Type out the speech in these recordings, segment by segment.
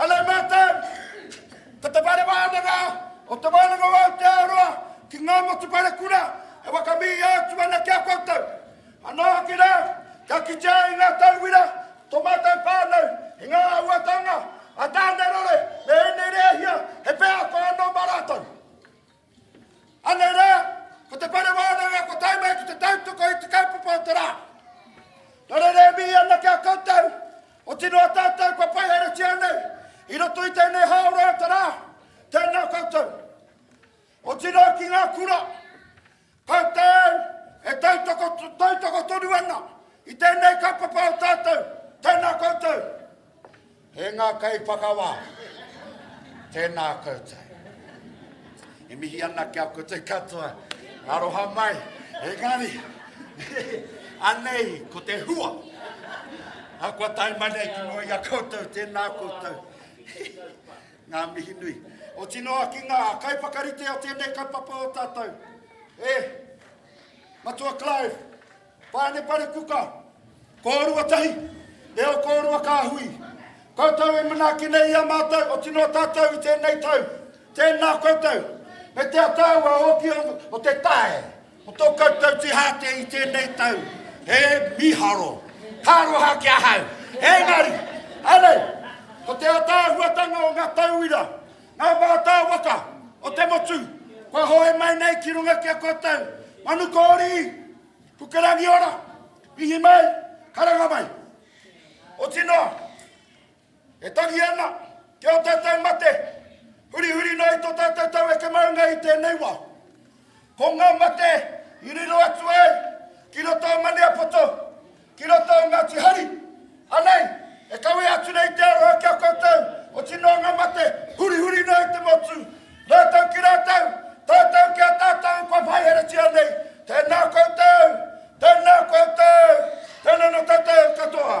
Hello mātou! Ko te whare wānanga o Te Wānanga o Aotearoa ki ngā motu whare kura e whakamihia atu ana ki a koutou. Anō hoki rā, kia kitea ai ngā tauira o tō mātou whānau i ngā āhuatanga a Tānerore me ēnei rēhia, he wheako anō mā rātou. Anei rā, ko te whare wānanga kua tae mai ki te tautoko i te kaupapa o te rā. Nana rā e mihi ana ki a koutou, otirā a tātou kua whai haeretia nei i roto i tēnei hāora o te rā, tēnā koutou. Otirā ki ngā kura, Koutou e tautoko, tautoko tonu ana i tēnei kaupapa o tātou, tēnā koutou. E ngā kaiwhakawā, tēnā koutou. E mihi ana ki a koutou katoa, aroha mai, engari, anei ko te hua. A kua tae mai nei ki mua i a koutou, tēnā koutou. Ngā mihi nui. Oti noa ki ngā kaiwhakarite o tēnei kaupapa o tātou. E, Matua Clive, Pane Parekuka, kōrua tahi, reo kōrua kāhui. Koutou e manaaki nei i a mātou, oti noa tātou i tēnei tau. Tēnā koutou, me te ataau a ōki o te tae, Ko tō koutou tīhātia i tēnei tau, he mīharo, ka aroha ki ahau. Engari, anei, ko te ataahuatanga o ngā tauira, ngā mātāwaka o te motu, kua hoe mai nei ki runga ki a koutou, manu kōrī, puke rangiora, mihi mai, karanga mai. Oti noa, E tangi ana ki ō tātou mate, hurihuri noa i tō tātou taueke maunga i tēnei wā. Ko ngā mate i riro atu ai ki roto o Maniapoto, ki roto o Ngāti Hari, anei, e kawea atu nei te aroha ki a koutou, oti noa ngā mate, hurihuri noa i te motu, rātou ki rātou, tātou ki a tātou kua whaiheretia nei, tēnā koutou, tēnā koutou, tēnā nō tātou katoa.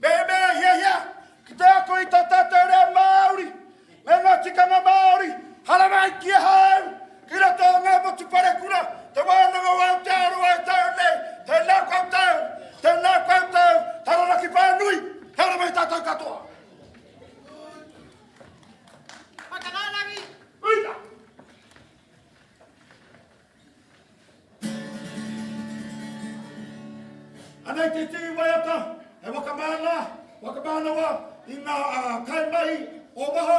Mehemea hiahia ki te ako i tō tātou reo Māori me ngā tikanga Māori, haramai ki ahau, ki roto o ngā motu parekura, te wānanga o Aotearoa e tau nei, tēnā koutou, tēnā koutou, Taranaki whānui, he ara mai tātou katoa. Whakarārangi! Uita! Ana i te tū waiata he waka māna, waka mānawa i ngā kaimahi o waho,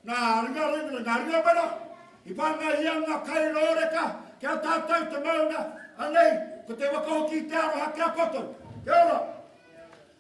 ngā ringa wera i whāngaihia ngā kai rōreka ki a tātou te maunga, anei ko te waka hoki i te aroha ki a koutou. Kia ora!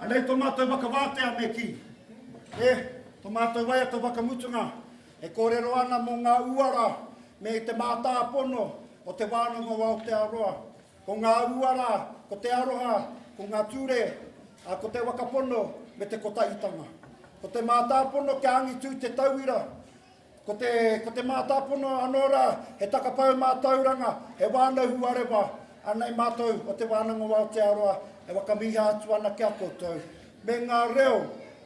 Anei to matou whakawātea me ki. E, to matou waiata whakamutunga e korero ana mo nga uara me te mātāpono o te wānanga o Aotearoa. Ko ngā uara, ko te aroha, ko ngā ture, ā, ko te wakapono me te kotahitanga. Ko te mātāpono kia angitū te tauira. Ko te, ko te mātāpono anō rā, he takapau mātauranga, he wānau huarewa. Anei mātou o Te Wānanga o Aotearoa e whakamīha atu ana ki a koutou, me ngā reo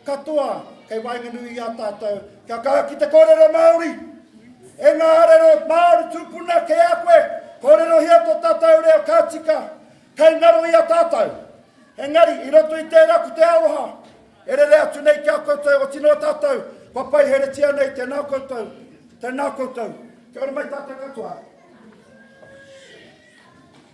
katoa kei waenganui i a tātou kia kaha ki te kōrero Māori. E ngā arero Māori tūpuna kei a koe, kōrerohia tō tātou reo ka tika, kei ngaro i a tātou. Engari, i roto i tērā ko te aroha e rere atu nei ki a koutou, oti noa tātou kua paiheretia nei, tēnā koutou, tēnā koutou. Kia ora mai tātou katoa.